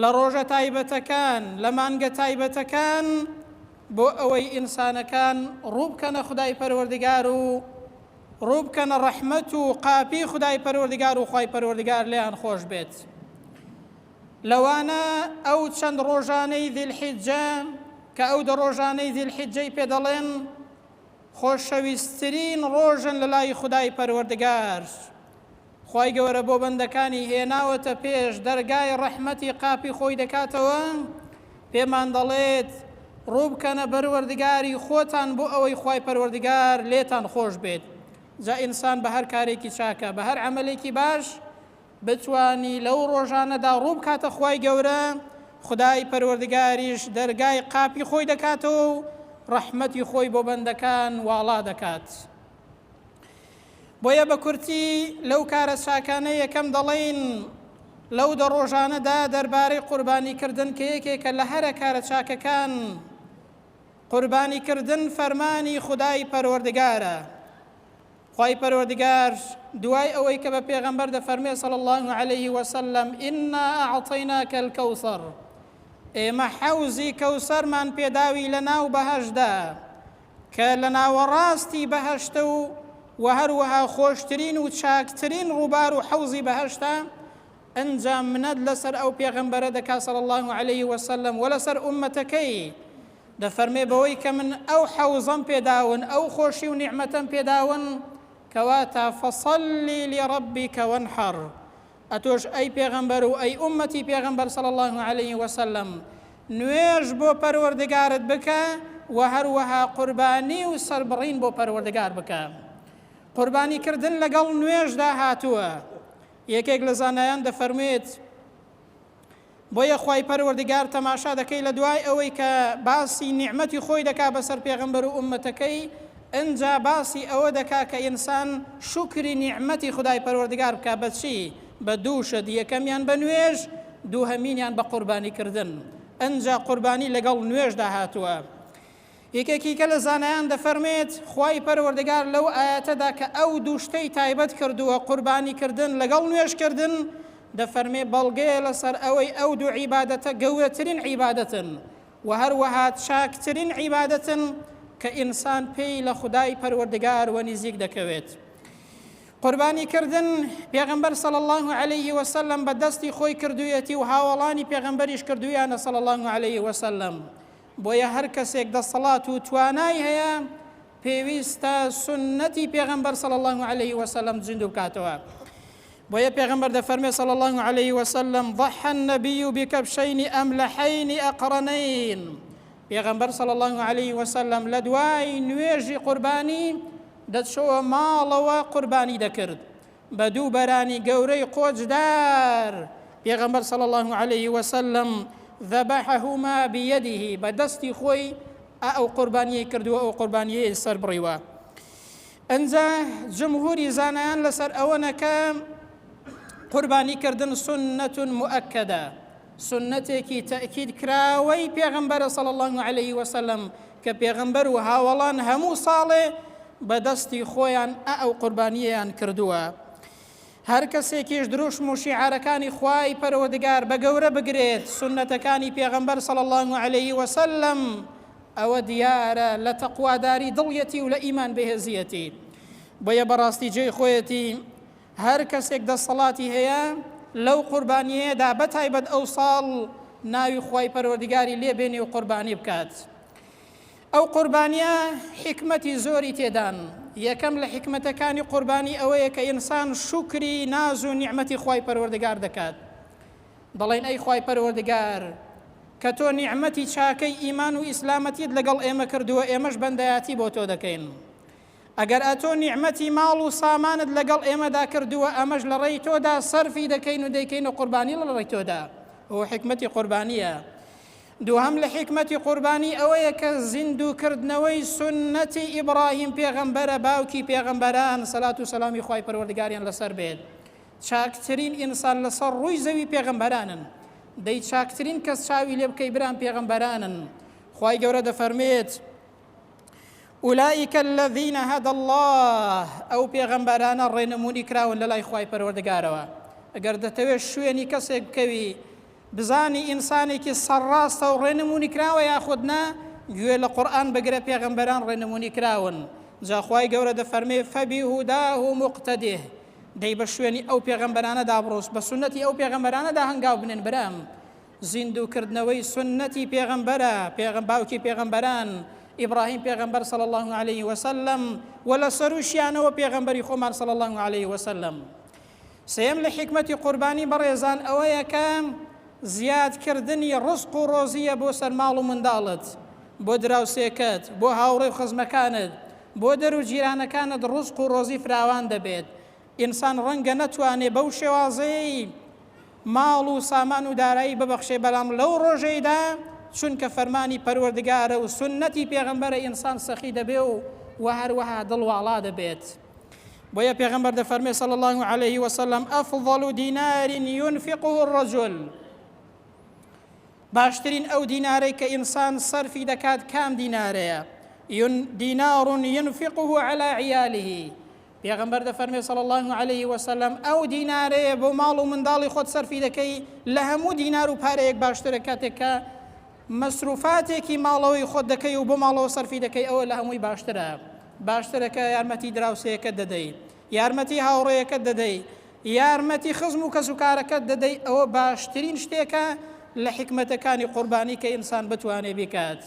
لە ڕۆژە تایبەتەکان، لە مانگە تایبەتەکان، بۆ ئەوەی ئینسانەکان ڕووبکەنە خودای پەروەردگار و ڕووبکەنە ڕەحمەت و قاپی خودای پەروەردگار و خوای پەروەردگار لێیان خۆش بێت لەوانە ئەو چەند ڕۆژانەی ذی الحجە کە ئەو دە ڕۆژانەی ذی الحجەی پێ دەڵێن خۆشەویستترین ڕۆژن لە لای خودای پەروەردگار خوای گەوەرە بۆ بەندەکانی هێناوەتە پێش دەرگای ڕەحمەتی قاپی خۆی دەکاتەوە پێمان دەڵێت ڕووبکەنە بەروەردگاری خۆتان بۆ ئەوەی خوای پەروەردگار لێتان خۆش بێت جا ئینسان بە هەر کارێکی چاکە بە هەر عملێکی باش بتوانی لەو ڕۆژانەدا ڕووبکاتە خوای گەورە خدای پەروەردگاریش دەرگای قاپی خۆی دەکاتەوە و ڕەحمەتی خۆی بۆ بەندەکان واڵا دەکات بۆیە بە کورتی لەو کارە چاکانە یەکەم دەڵێین لەو دە ڕۆژانەدا دەربارەی قوربانیکردن کە یەکێکە لە هەرە کارە چاکەکان قوربانیکردن فەرمانی خدای پەروەردگارە خی پەروەردگار دوای ئەوەی کە بە پێغەمبەر دەفەرمێ سەڵ الله عليه وسلم ئنا ئەعطینا کەلکەوسەر ئێمە حەوزی کەوسەرمان پێداوی لە ناو بەهشدا کە لە ناوەڕاستی بەهەشتە و وە هەروەها خۆشترین و چاکترین ڕووبار و حەوزی بەهەشتە، ئەنجا منەت لەسەر ئەو پێغەمبەرە دەکا صلی اللە علیە وسلم وە لەسەر ئوممەتەکەی، دەفەرمێ بەوەی کە من ئەو حەوزەم پێداون ئەو خۆشی و نیعمەتەم پێداون، کەواتە فصلی لربک وانحر، ئەتۆش ئەی پێغەمبەر و ئەی ئوممەتی پێغەمبەر صلی اللە علیە وسلم نوێژ بۆ پەروەردگارت بکە وە هەروەها قوربانی و سەربڕین بۆ پەروەردگار بکە قوربانی کردن لەگەڵ نوێژدا هاتووە یەکێک لە زانایان دەفەرموێت بۆیە خوای پەروەردگار تەماشا دەکەی لە دوای ئەوەی کە باسی نیعمەتی خۆی دەکا بەسەر پێغەمبەر و ئوممەتەکەی ئنجا باسی ئەوە دەکا کە ئینسان شوکری نیعمەتی خودای پەروەردگار بکا بە چی بە دوو شت یەکەمیان بە نوێژ دووهەمینیان بە قوربانی کردن ئنجا قوربانی لەگەڵ نوێژدا هاتووە یەکێکیکە لە زانایان دەفەرمێت، خوای پەروەردگار لەو ئایەتەدا کە ئەو دوو شتەی تایبەت کردووە، قوربانی کردن لەگەڵ نوێژ کردن، دەفەرمێ بەڵگەیە لەسەر ئەوەی ئەو دوو عیبادەتە گەورەترین عیبادەتن و هەروەها چاکترین عیبادەتن کە ئینسان پێی لە خودای پەروەردگار وەنیزیک دەکەوێت. قوربانی کردن، پێغەمبەر صلی اللە علیه وسلم بە دەستی خۆی کردوویەتی و هاوەڵانی پێغەمبەریش کردوویانە صلی اللە علیه وسلم. بۆیە هەر کەسێک دەسەڵات و توانای هەیە پێویستە سوننەتی پێغەمبەر صلی اللە علیه وسلم زیندوو بکاتەوە بۆیە پێغەمبەر دەفەرمێ صلی اللە علیه وسلم ضح النبی بکبشین املحین اقرنین پێغەمبەر صلی اللە علیه وسلم لە دوای نوێژی قوربانی دەچەوە ماڵەوە قوربانی دەکرد بە دوو بەرانی گەورەی قۆچدار، پێغەمبەر صلی اللە علیه وسلم ذبحهما بیده، بە دەستی خۆی ئا ئەو قوربانیەی کردووە ئەو قوربانیەی سەربڕیوە. ئنجا جمهوری زانایان لەسەر ئەوەنە کە قوربانی کردن سنەت مؤکدە، سنەتێکی تەئکید کراوەی پێغەمبەرە صلی اللە علیه وسلم کە پێغەمبەر و هاوەڵان هەموو ساڵێ بە دەستی خۆیان ئە ئەو قوربانیەیان کردووە هەر کەسێکیش دروشم و شیعارەکانی خوای پەروەردگار بە گەورە بگرێت سونەتەکانی پێغەمبەر صلی الله علیه وسلم ئەوە دیارە لە تەقواداری دڵیەتی و لە ئیمان بەهێزیەتی بۆیە بەڕاستی جێی خۆیەتی هەر کەسێک دەسەڵاتی هەیە لەو قوربانیەیەدا بەتایبەت ئەو ساڵ ناوی خوای پەروەردگاری لێ بێنێ و قوربانی بکات ئەو قوربانیە حیکمەتی زۆری تێدان یەکەم لە حیکمەتەکانی قوربانی ئەوەیە کە ئینسان شوکری ناز و نیعمەتی خوای پەروەردگار دەکات دەڵێن ئەی خوای پەروەردگار کە تۆ نیعمەتی چاکەی ئیمان و ئیسلامەتیت لەگەڵ ئێمە کردووە ئێمەش بەندایەتی بۆ تۆ دەکەین ئەگەر ئەتۆ نیعمەتی ماڵ و سامانت لەگەڵ ئێمەدا کردووە ئەمەش لەڕێی تۆدا سەرفی دەکەین و دەیکەینە قوربانی لەڕێی تۆدا، ئەوە حیکمەتی قوربانییە. دووهەم لە حیکمەتی قوربانی ئەوەیە کە زیندوو کردنەوەی سوننەتی ئیبڕاهیم پێغەمبەرە باوکی پێغەمبەران، سەلات و سەلامی خوای پەروەردگاریان لەسەر بێت، چاکترین ئینسان لەسەر ڕووی زەوی پێغەمبەرانن، دەی چاکترین کەس چاوی لێ بکەی برام پێغەمبەرانن. خوای گەورە دەفەرموێت. اولئک الذین هدی اللە، ئەو پێغەمبەرانە ڕێنمونی کراون لەلای خوای پەروەردگارەوە، ئەگەر دەتەوێت شوێنی کەسێک بکەوی بزانی ئینسانێکی سەرڕاستە و ڕێنمونی کراوە یاخود نا گوێ لە قورئان بگرە پێغەمبەران ڕێنمونی کراون جا خوای گەورە دەفەرمێ فبهداه مقتده دەی بە شوێنی ئەو پێغەمبەرانەدا بڕۆس بە سونەتی ئەو پێغەمبەرانەدا هەنگاو بنێن برام زیندوو کردنەوەی سوننەتی پێغەمبەرە، پێغە باوکی پێغەمبەران، ئیبراهیم پێغەمبەر صلی اللە علیە وسلم، وە لە سەرووشیانەوە پێغەمبەری خۆمان صلی اللە علیە وسلم. سێیەم لە حیکمەتی قوربانی بەڕێزان ئەوەیە کە زیاد کردنی ڕزق و ڕۆزییە بۆ سەر ماڵ و منداڵت، بۆ دراوسێکەت، بۆ هاوڕێ و خزمەکانت، بۆ دەر و جیرانەکانت ڕزق و ڕۆزی فراوان دەبێت، ئینسان ڕەنگە نەتوانێ بەو شێوازەیەی ماڵ و سامان و دارایی ببەخشێ بەلام لەو ڕۆژەیدا چونکە فەرمانی پەروەردگارە و سوننەتی پێغەمبەرە ئینسان سەخی دەبێ و وە هەروەها دڵ واڵا دەبێت بۆیە پێغەمبەر دەفەرمێ صلی الله علیه وسلم افضل دینار ينفقه الرجل باشترین ئەو دینارەی کە ئینسان سەرفی دەکات کام دینارەیە دینار ينفقه على عیاله پێغەمبەر دەفەرمێ صلی اللە علیە وسلم، ئەو دینارەیە بۆ ماڵ و منداڵی خۆت سەرفی دەکەی لە هەموو دینار و پارەیەک باشترە کاتێک کە مەسروفاتێکی ماڵەوەی خۆت دەکەی و بۆ ماڵەوە سەرفی دەکەی ئەوە لە هەمووی باشترە باشترە کە یارمەتی دراوسێەکەت دەدەی یارمەتی هاوڕێیەکەت دەدەی یارمەتی خزم و کەسوکارەکەت دەدەی ئەوە باشترین شتێکە لە حکمەتەکانی قوربانی کە ئینسان بتوانێ بکات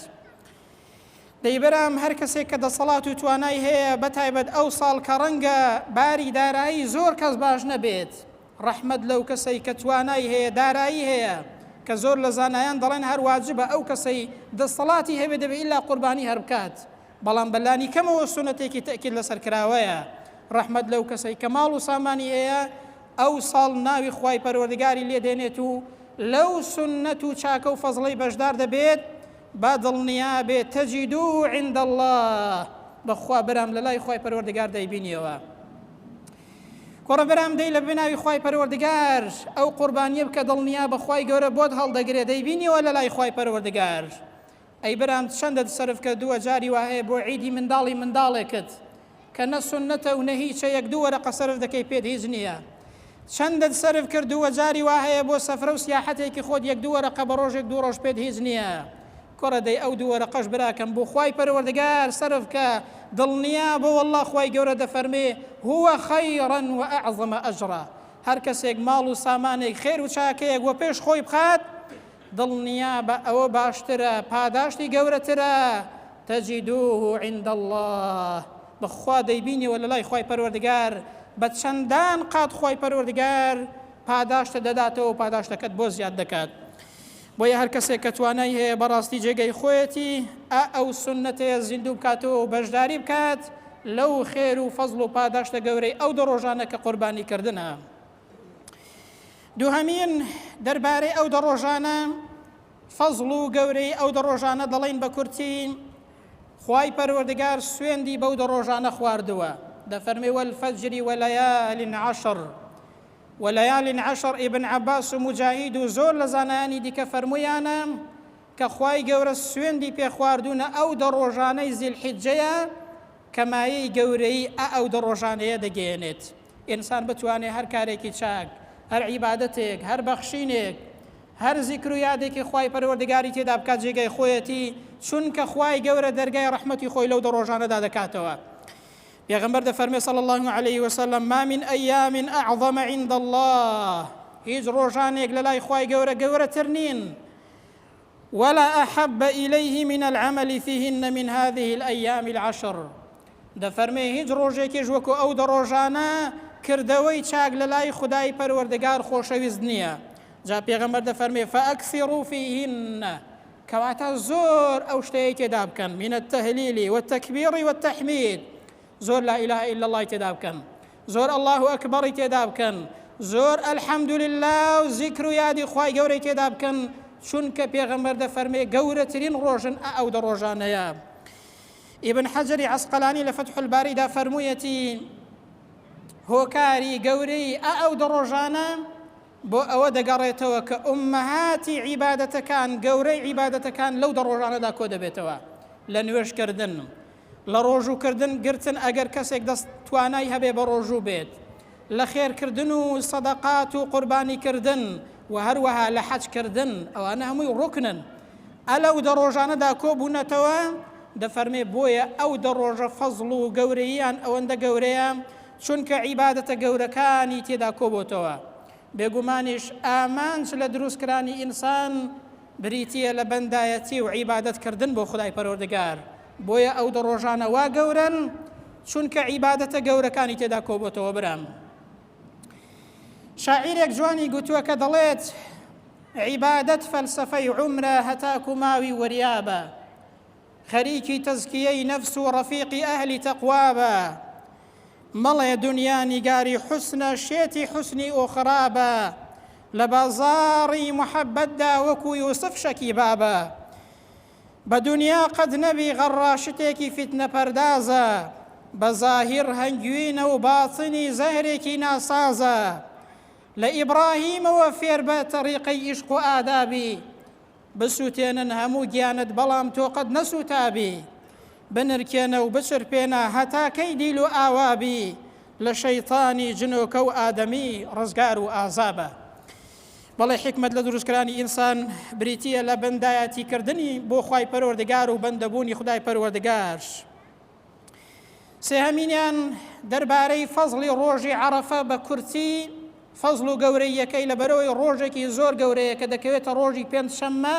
دەی برام هەر کەسێک کە دەسەڵات و توانای هەیە بەتایبەت ئەو ساڵ کە ڕەنگە باری دارایی زۆر کەس باش نەبێت ڕەحمەت لەو کەسەی کە توانای هەیە دارایی هەیە کە زۆر لە زانایان دەڵێن هەر واجبە ئەو کەسەی دەسەڵاتی هەبێت دەبێت ئیلا قوربانی هەر بکات بەڵام بە لانی کەمەوە سونەتێکی تەئکید لەسەر کراوەیە ڕەحمەت لەو کەسەی کە ماڵ و سامانی هەیە ئەو ساڵ ناوی خوای پەروەردگاری لێ دێنێت و لەو سونەت و چاکە و فەزڵەی بەشدار دەبێت با دڵنیا بێت تجدوه عند اللە بەخوا برام لەلای خوای پەروەردگار دەیبینیەوە کوڕە برام دەی لە بناوی خوای پەروەردگار ئەو قوربانیە بکە دڵنیا بەخوای گەورە بۆت هەڵدەگرێ دەیبینیەوە لەلای خوای پەروەردگار ئەی برام چەندە سەرف کردووە جاری وایە بۆ عیدی منداڵی منداڵێکت کە نە سوننەتە و نە هیچە یەک دوو وەرەقە سەرف دەکەی پێت هیچ نییە چەندت سەرف کردووە جاری وا هەیە بۆ سەفرە و سیاحەتێکی خۆت یەک دوو وەرەقە بە ڕۆژێک دوو ڕۆژ پێت هیچ نییە کوڕە دەی ئەو دوو وەرەقەش براکەم بۆ خوای پەروەردگار سەرف کە دڵنیا بە واللە خوای گەورە دەفەرمێ هو خیرا و اعظم اجرا هەر کەسێک ماڵ و سامانێک خێر و چاکەیەک وەپێش خۆی بخات دڵنیابە ئەوە باشترە پاداشتی گەورەترە، تجدوه عند اللە، بەخوا دەیبینیەوە لەلای خوای پەروەردگار بە چەندان قات خوای پەروەردگار پاداشتت دەداتەوە و پاداشتەکەت بۆ زیاد دەکات بۆیە هەرکەسێک کە توانای هەیە بەڕاستی جێگەی خۆیەتی ئا ئەو سونەتەیە زیندوو بکاتەوە و بەشداری بکات لەو خێر و فەزڵ و پاداشتە گەورەی ئەو دە ڕۆژانە کە قوربانی کردنە. دوهەمین دەربارەی ئەو دە ڕۆژانە فەزڵ و گەورەی ئەو دە ڕۆژانە دەڵین بە کورتی خوای پەروەردگار سوێندی بەو دە ڕۆژانە خواردووە دەفەرمی وەلفەجری وەلەیالین عشر وەلەیالین عشر ئیبن عباس و مجاهید و زۆر لە زانایانی دیکە فەرمویانە کە خوای گەورە سوێندی پێخواردونە ئەو دە ڕۆژانەی زیلحیجەیە کە مایەی گەورەیی ئە ئەو دە ڕۆژانەیە دەگەیەنێت. ئینسان بتوانێ هەر کارێکی چاک، هەر عیبادەتێک، هەر بەخشینێک، هەر زیکر و یادێکی خوای پەروەردگاری تێدا بکات جێگای خۆیەتی، چونکە خوای گەورە دەرگای ڕەحمەتی خۆی لەو دە ڕۆژانەدا دەکاتەوە. پێغەمبەر دەفەرمێ صلی اللە علیه وسلم، ما من ایام اعظم عند اللە، هیچ ڕۆژانێک لەلای خوای گەورە گەورەتر نین، ولا احب الیه من العمل فیهن من هذه الایام العشر دەفەرمێ هیچ ڕۆژێکیش وەکو ئەو دە ڕۆژانە کردەوەی چاک لە لای خودای پەروەردگار خۆشەویست نییە جا پێغەمبەر دەفەرمێ فاکثروا فیهن کەواتە زۆر ئەو شتەیە تێدا بکەن من التهلیل والتکبیر والتحمید زۆر لا الە الا اللە ی تێدا بکەن زۆر اللە اکبری تێدا بکەن زۆر الحمدللە و زیکر و یادی خوای گەورەی تێدا بکەن چونکە پێغەمبەر دەفەرمێ گەورەترین ڕۆژن ئە ئەو دە ڕۆژانەیە ئیبن حەجری عەسقەلانی لە فتح الباریدا فەرموویەتی هۆکاری گەورەی ئە ئەو دە ڕۆژانە بۆ ئەوە دەگەڕێتەوە کە ئومەهاتی عیبادەتەکان گەورەی عیبادەتەکان لەو دە ڕۆژانەدا کۆ دەبێتەوە لە نوێژکردن لە ڕۆژوو کردن گرتن ئەگەر کەسێک دەست توانای هەبێ بە ڕۆژوو بێت لە خێر کردن و سەدەقات و قوربانی کردن و هەروەها لە حەج کردن ئەوانە هەمووی ڕوکنن ئە لەو دە ڕۆژانەدا کۆ بوونەتەوە دەفەرمێ بۆیە ئەو دە ڕۆژە فەزڵ و گەورەییان ئەوەندە گەورەیە چونکە عیبادەتە گەورەکانی تێدا کۆبۆتەوە بێگومانیش ئامانج لە دروستکرانی ئینسان بریتیە لە بەندایەتی و عیبادەت کردن بۆ خدای پەرۆردگار بۆیە ئەو دە ڕۆژانە وا گەورەن چونکە عیبادەتە گەورەکانی تێدا کۆبۆتەوە برام شاعیرێک جوانی گوتووە کە دەڵێت عیبادەت فەلسفەی عمرە هەتاکو ماوی وەریابە خەریکی تەزکیەی نەفس و ڕەفیقی ئەهلی تەقوابە مەڵێ دنیا نیگاری حسنە شێتی حسنی ئۆخرابە لە بازاڕی محەبەتدا وەکو یوسف شەکی بابە بە دونیا قەت نەبی غەڕا شتێکی فیتنە پەردازە بە زاهیر هەنگوینە و باتنی زەهرێکی ناسازە لە ئیبڕاهیمەوە فێربە تەڕیقەی ئیشق و ئادابی بسوتێنن هەموو گیانت بەڵام تۆ قەت نەسوتابی بنرکێنە و بچرپێنە هەتا کەی دیل و ئاوابی لە شەیتانی جنۆکە و ئادەمی ڕزگار و ئازابە بەڵێ حیکمەت لە دروستکرانی ئینسان بریتییە لە بەندایەتی کردنی بۆ خوای پەروەردگار و بەندەبوونی خدای پەروەردگار. سێهەمینیان دەربارەی فەزڵی ڕۆژی عەرەفە بە کورتی فەزڵ و گەورەیەکەی لەبەرەوەی ڕۆژێکی زۆر گەورەیە کە دەکەوێتە ڕۆژی پێنج شەممە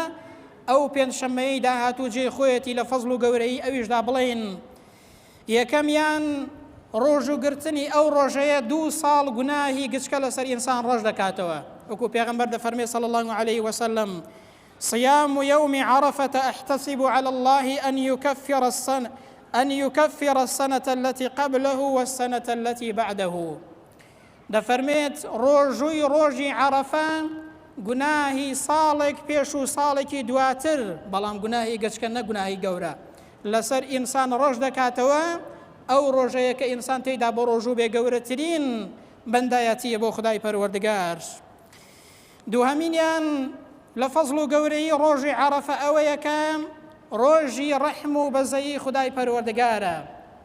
ئەو پێنج شەممەیەی داهاتوو جێ خۆیەتی لە فەزڵ و گەورەی ئەویشدا بڵین یەکەمیان ڕۆژوو گرتنی ئەو ڕۆژەیە دوو ساڵ گوناهی گچکە لەسەر ئینسان ڕەش دەکاتەوە، وەکو پێغەمبەر دەفەرمێ صلی اللە علیە وسلم، صیام یوم عرفە احتسب علی اللە ان یکفر السنە ان یکفر السنە التی قبله والسنە التی بعده. دەفەرمێت، ڕۆژووی ڕۆژی عەڕەفە گوناهی ساڵێک پێش و ساڵێکی دواتر، بەڵام گوناهی گەچکە نەک گوناهی گەورە، لەسەر ئینسان ڕەش دەکاتەوە، ئەو ڕۆژەیە کە ئینسان تێیدا بەڕۆژوو بێ گەورەترین بەندایەتییە بۆ خودای پەروەردگار. دووهەمینیان لە فەزڵ و گەورەیی ڕۆژی عەڕەفە ئەوەیە کە ڕۆژی ڕەحم و بەزەیی خودای پەروەردگارە،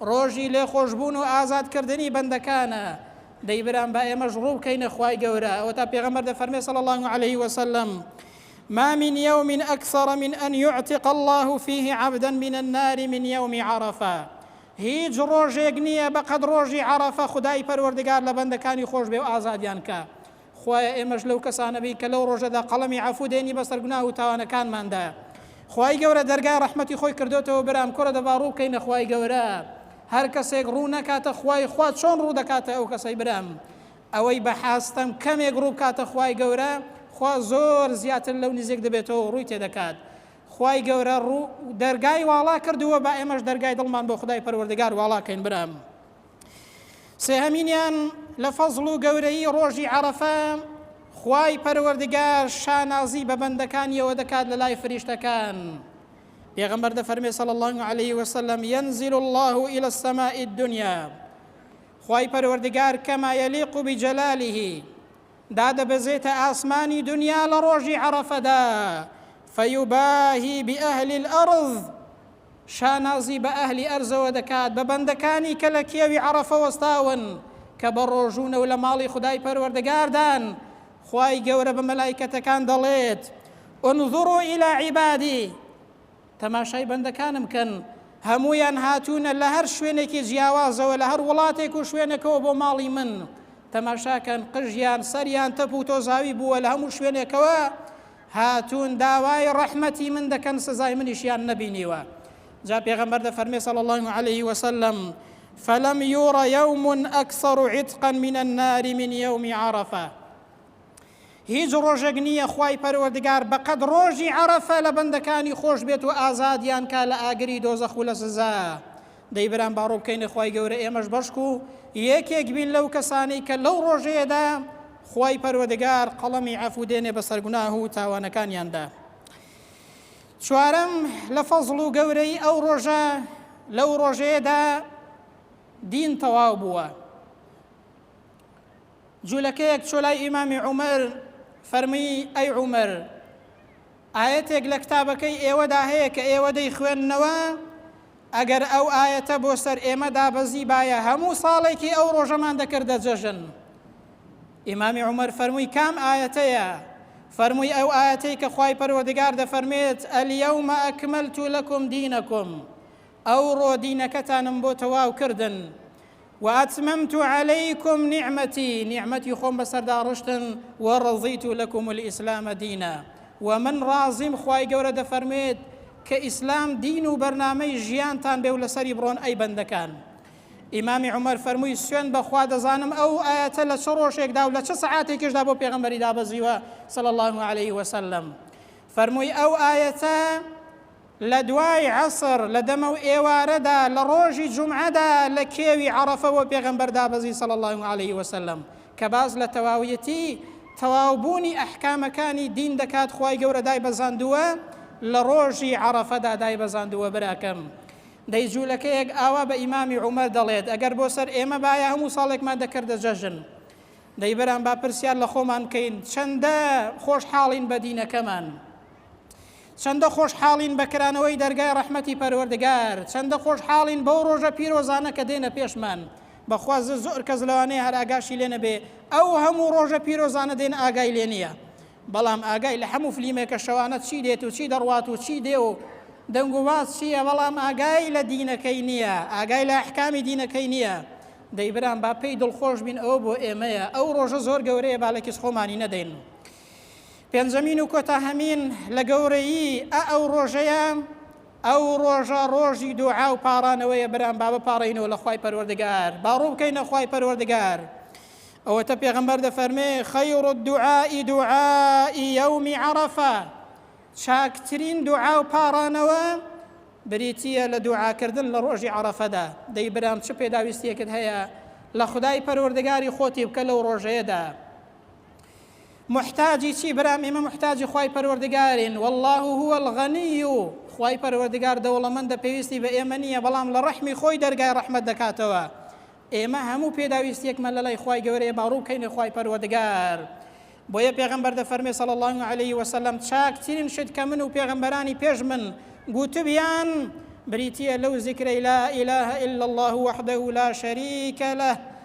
ڕۆژی لێخۆشبوون و ئازادکردنی بەندەکانە، دەی برام با ئێمەش ڕوو بکەینە خوای گەورە، ئەوەتا پێغەمبەر دەفەرمێ صلی اللە علیه و سلم، ما من یوم اکثر من ان یعتق اللە فیه عبدا من النار من یوم عەڕەفە، هیچ ڕۆژێک نییە بەقەد ڕۆژی عەڕەفە خودای پەروەردگار لە بەندەکانی خۆشبێ و ئازادیان کا، خوایە ئێمەش لەو کەسانە بین کە لەو ڕۆژەدا قەڵەمی عەفوو دێنی بەسەر گوناه و تاوانەکانماندایە خوای گەورە دەرگای ڕەحمەتی خۆی کردۆتەوە برام کورە دەبا ڕوو بکەینە خوای گەورە هەر کەسێک ڕوو نەکاتە خوای خوا چۆن ڕوو دەکاتە ئەو کەسەی برام ئەوەی بە حاستەم کەمێک ڕوو بکاتە خوای گەورە خوا زۆر زیاتر لەو نزیک دەبێتەوە ڕووی تێدەکات خوای گەورە ڕوو دەرگای واڵا کردووە با ئێمەش دەرگای دڵمان بۆ خدای پەروەردگار واڵا کەین برام سێهەمینیان لە فەزڵ و گەورەیی ڕۆژی عەرەفە خوای پەروەردگار شانازی بە بەندەکانیەوە دەکات لە لای فریشتەکان پێغەمبەر دەفەرمێ صلی الله علیه وسلم ينزل الله الى السماء الدنيا خوای پەروەردگار کەما یەلیق و بجلالیه دادەبەزێتە ئاسمانی دنیا لە ڕۆژی عەرەفەدا فەیوباهی بئەهلی الأرض شا نازی بە ئەهلی ئەرزەوە دەکات بە بەندەکانی کە لە کێوی عەڕەفە وەستاون کە بە ڕۆژوونە و لە ماڵی خودای پەروەردگاردان، خوای گەورە بە مەلایکەتەکان دەڵێت، انظروا الی عبادی، تەماشای بەندەکانم کەن، هەموویان هاتوونە لە هەر شوێنێکی جیاوازەوە لە هەر وڵاتێک و شوێنەکەوە بۆ ماڵی من، تەماشاکەن قژیان سەریان تەپ و تۆزاوی بووە لە هەموو شوێنێکەوە، هاتوون داوای ڕەحمەتی من دەکەن سزای منیشیان نەبینیوە جا پێغەمبەر دەفەرمێ صلی اللە علیه وسلم فلم یوڕ یوم اکثر عتقا من النار من یوم عرفە هیچ ڕۆژێک نییە خوای پەروەردگار بەقەد ڕۆژی عرفە لە بەندەکانی خۆش بێت و ئازادیان کا لە ئاگری دۆزەخ و لە سزا دەی برام با ڕووبکەینە خوای گەورە ئێمەش بەشک و یەکێک بین لەو کەسانەی کە لەو ڕۆژەیەدا خوای پەروەدگار قەڵەمی عەفوو دێنێ بەسەر گوناه و تاوانەکانیاندا چوارەم لە فەزڵ و گەورەی ئەو ڕۆژە لەو ڕۆژەیەدا دین تەواو بووە جوولەکەیەک چۆلای ئیمامی عومەر فەرمی ئەی عومەر ئایەتێک لە کتابەکەی ئێوەدا هەیە کە ئێوە دەیخوێننەوە، ئەگەر ئەو ئایەتە بۆ سەر ئێمە دابەزیبایە هەموو ساڵێکی ئەو ڕۆژەمان دەکردە جەژن. ئیمامی عومەر فەرمووی کام ئایەتەیە؟ فەرمووی ئەو ئایەتەی کە خوای پەروەردگار دەفەرمێت ئەلیەومە ئەکمەلتو لەکم دینەکم ئەوڕۆ دینەکەتانم بۆ تەواو کردن. واتممت علیکم نعمتی، نیعمەتی خۆم بەسەردا ڕشتن، ورضیت لکم الاسلام دینا، و من ڕازیم خوای گەورە دەفەرموێت کە ئیسلام دین و بەرنامەی ژیانتان بێ و لەسەری بڕۆن ئەی بەندەکان. ئیمامی عومەر فەرمووی، سوێند بە خوا دەزانم ئەو ئایەتە لە چ ڕۆژێکدا و لە چ سەعاتێکیشدا بۆ پێغەمبەری دابەزیوە صلی اللە علیە وسلم فەرمووی، ئەو ئایەتە، لە دوای عەسر، لە دەمەو ئێوارەدا، لە ڕۆژی جومعەدا لە کێوی عەڕەفە بۆ پێغەمبەر دابەزی صلی اللە علیە وسلم کە باس لە تەواویەتی تەواو بوونی ئەحکامەکانی دین دەکات خوای گەورە دایبەزاندووە لە ڕۆژی عەڕەفەدا دایبەزاندووە براکەم دەی جولەکەیەک ئاوا بە ئیمامی عومەر دەڵێت ئەگەر بۆ سەر ئێمە بایە هەموو ساڵێکمان دەکردە جەژن دەی برام با پرسیار لە خۆمان بکەین چەندە خۆشحاڵین بە دینەکەمان چەندە خۆشحاڵین بە کرانەوەی دەرگای ڕەحمەتی پەروەردگار چەندە خۆشحاڵین بەو ڕۆژە پیرۆزانە کە دێنە پێشمان بەخوا زر زۆر کەس لەوانەیە هەر ئاگاشی لێ نەبێ ئەو هەموو ڕۆژە پیرۆزانە دێن ئاگای لێ نییە بەڵام ئاگای لە هەموو فلیمێکە شەوانە چی دێت و چی دەڕوات و چی دێ و دەنگ و باز چییە بەڵام ئاگای لە دینەکەی نییە ئاگای لە ئەحکامی دینەکەی نییە دەیبران با پێی دڵخۆش بین ئەوە بۆ ئێمەیە ئەو ڕۆژە زۆر گەورەیە با لە کیس خۆمانی نەدەین پێنجەمین و کۆتاهەمین لە گەورەیی ئە ئەو ڕۆژەیە ئەو ڕۆژە ڕۆژی دوعا و پاڕانەوەیە برام با بپاڕینەوە لە خی پەروەردگار باڕوو بکەین لە خی پەروەردگار ئەوەتە پێغمبەر دەفەرمێ خەیڕ دوعائی دوعائی یومی عرفە چاکترین دوعا و پاڕانەوە بریتە لە دوعاکردن لە ڕۆژی عرفەدا دەی برام چ پێداویستیەکت هەیە لە خدای پەروەردگاری خۆتی بکە لەو ڕۆژەیەدا موحتاجی چی برام ئێمە موحتاجی خوای پەروەردگارین والله هو الغنی خوای پەروەردگار دەوڵەمەندە پێویستی بە ئێمە نییە بەڵام لە ڕەحمی خۆی دەرگای ڕەحمەت دەکاتەوە ئێمە هەموو پێداویستیەکمە لە لای خوای گەورەیە باڕوو بکەینە خوای پەروەردگار بۆیە پێغمبەر دەفەرمێ سەڵ الله عليه وسلم چاکترین شت کە من و پێغمبەرانی پێش من گوتبیان بریتە لەو زیکرەی لا إله إلا الله وحده لا شريك له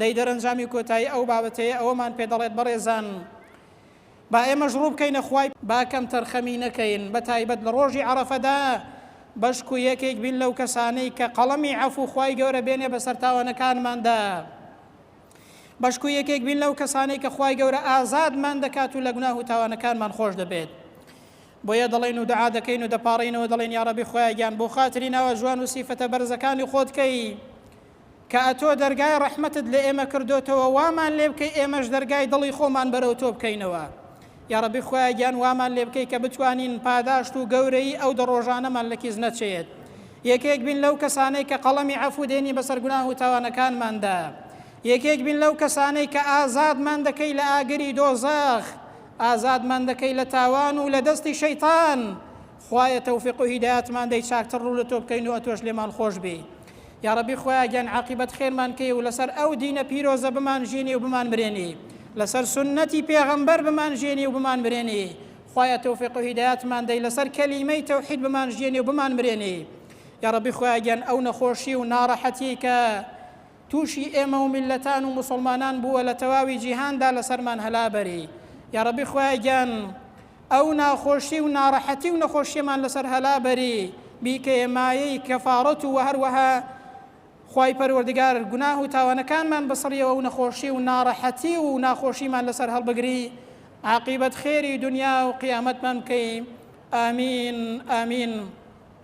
دەی دەرەنجامی کۆتایی ئەو بابەتەیە ئەوەمان پێ دەڵێت بەڕێزان با ئێمەش ڕوو بکەینە خوای با کەم تەرخەمی نەکەین بە تایبەت لە ڕۆژی عەڕەفەدا بەشکو یەکێک بین لەو کەسانەی کە قەڵەمی عەفو خوای گەورە بێنێ بەسەر تاوانەکانماندا بەشکو یەکێک بین لەو کەسانەی کە خوای گەورە ئازادمان دەکات و لە گوناه و تاوانەکانمان خۆش دەبێت بۆیە دەڵێن و دعا دەکەین و دەپاڕینەوە دەڵێن یاڕەبی خۆیان گیان بۆ خاتری ناوە جوان و سیفەتە بەرزەکانی خۆتکەی کە ئەتۆ دەرگای ڕەحمەتت لە ئێمە کردۆتەوە وامان لێ بکەی ئێمەش دەرگای دڵی خۆمان بەرەو تۆ بکەینەوە یاڕەبی خوای گیان وامان لێ بکەی کە بتوانین پاداشت و گەورەی ئەو دە ڕۆژانەمان لە کیس نەچێت یەکێک بین لەو کەسانەی کە قەڵەمی عەفو دێنی بەسەر گوناه و تاوانەکانماندا یەکێک بین لەو کەسانەی کە ئازادمان دەکەی لە ئاگری دۆزەخ ئازادمان دەکەی لە تاوان و لە دەستی شەیتان خوایە تەوفیق و هیدایەتمان دەی چاکتر ڕوو لەتۆ بکەین و ئەتۆش لێمان خۆش بێی یاڕەبی خوایە گیان عاقیبەت خێرمان کەی و لەسەر ئەو دینە پیرۆزە بمان ژینی و بمان مرێنی لەسەر سونەتی پێغەمبەر بمان ژێنی و بمان مرێنی خوایە تەوفیق و هیدایەتمان دەی لەسەر کەلیمەی تەوحید بمان ژێنی و بمان مرێنی یاڕەبی خوایە گیان ئەو نەخۆشی و ناڕەحەتی کە توشی ئێمە و میللەتان و موسوڵمانان بووە لە تەواوی جیهاندا لەسەرمان هەلا بەری یاڕەبی خوایە گیان ئەو ناخۆشی و ناڕەحەتی و نەخۆشیەمان لەسەر هەلا بەری بیکەیە مایەی کەفاڕەت و وەهەروەها خوای پەروەردگار گوناه و تاوانەکانمان بسڕیەوە و نەخۆشی و ناڕەحەتی و ناخۆشیمان لەسەر هەڵبگری عاقیبەت خێری دونیا و قیامەتمان بکەی ئامین ئامین.